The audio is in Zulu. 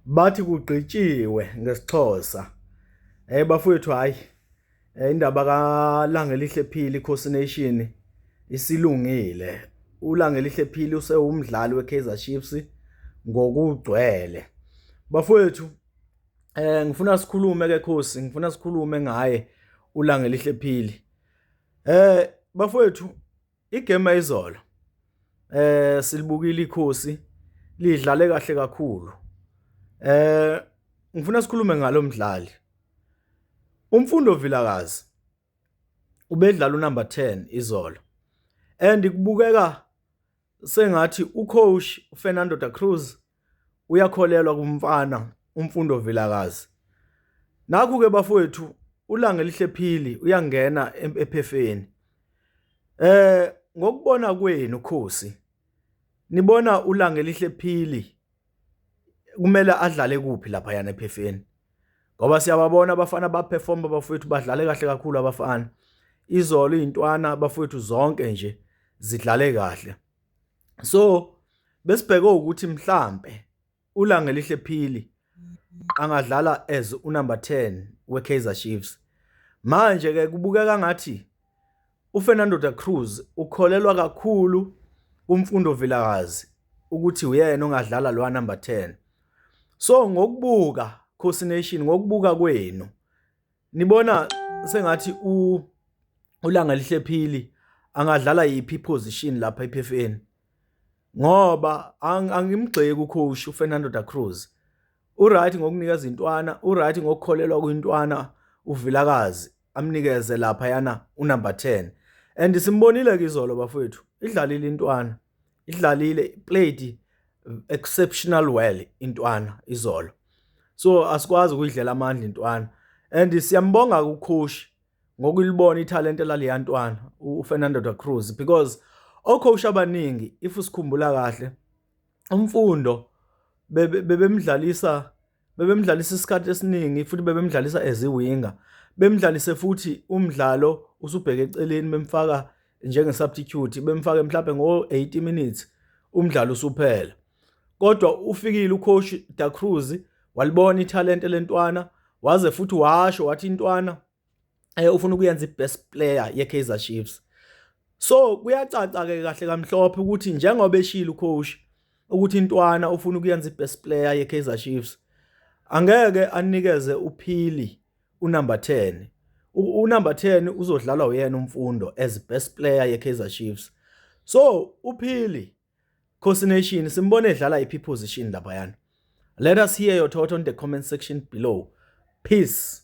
Bathi kugqitshiwe ngesiXhosa. Hhayi bafowethu hhayi indaba kaLangelihle Phili iKhosi Nation isilungile. ULangelihle Phili usewumdlali weKaizer Chiefs ngokugcwele. Bafowethu ngifuna sikhulume ke Khosi, ngifuna sikhulume ngaye uLangelihle Phili. Bafowethu Igame izolo eh silibukile ikhosi lidlale kahle kakhulu. Eh ngifuna sikhulume ngalomdlali. Umfundo Vilakazi ubedlala unumber 10 izolo. And kubukeka sengathi ucoach uFernando da Cruz uyakholelwa kumfana umfundo vilakazi nakhu ke bafowethu ulanga elihle phili uyangena ephefeni eh ngokubona kwenu khosi nibona ulanga elihle phili kumele adlale kuphi lapha yana ephefeni ngoba siyababona abafana abaperform abafowethu badlale kahle kakhulu abafana izolo izintwana abafowethu zonke nje zidlale kahle so besibheke ukuthi mhlambe ulanga elihle phili angadlala as unumber 10 weKaizer Chiefs manje ke kubukeka ngathi uFernando da Cruz ukholelwa kakhulu kumfundo Vilakazi ukuthi uyena ongadlala lo number 10 so ngokubuka Coast Nation ngokubuka kwenu Nibona sengathi u uLanga lihlephili angadlala yiphi position lapha ePFN ngoba angimgxeki ucoach uFernando da Cruz uright ngokunika izintwana uright ngokukholelwa kwintwana uvilakazi amnikeze lapha yana unumber 10 and simbonile ke izolo bafowethu idlalile intwana idlalile played exceptional well intwana izolo so asikwazi ukuyidlela amandla intwana and siyambonga ukhoshi ngokulibona ithalente laleya ntwana uFernando da Cruz because okhosha abaningi if usikhumbula kahle umfundo bebemdlalisa bebemdlalisa isikhathi esiningi futhi bebemdlalisa as iwinga bemdlalise futhi umdlalo usubheke eceleni bemfaka njenge-substitute bemfake mhlawumbe ngo-80 minutes umdlalo usuphela kodwa ufikile ucoach da cruz walibona ithalente lentwana waze futhi washo wathi intwana eh ufuna ukuyenza ibest player yeKaizer Chiefs so kuyacaca ke kahle kamhlophe ukuthi njengoba eshilo ucoach ukuthi intwana ufuna ukuyenza ibest player yeKaizer Chiefs angeke anikeze uphili unumber 10 unumber 10 uzodlala uyena umfundo as best player yeKaizer Chiefs so uphili Khosi Nation simbone edlala iphi position lapha yana let us hear your thought on the comment section below peace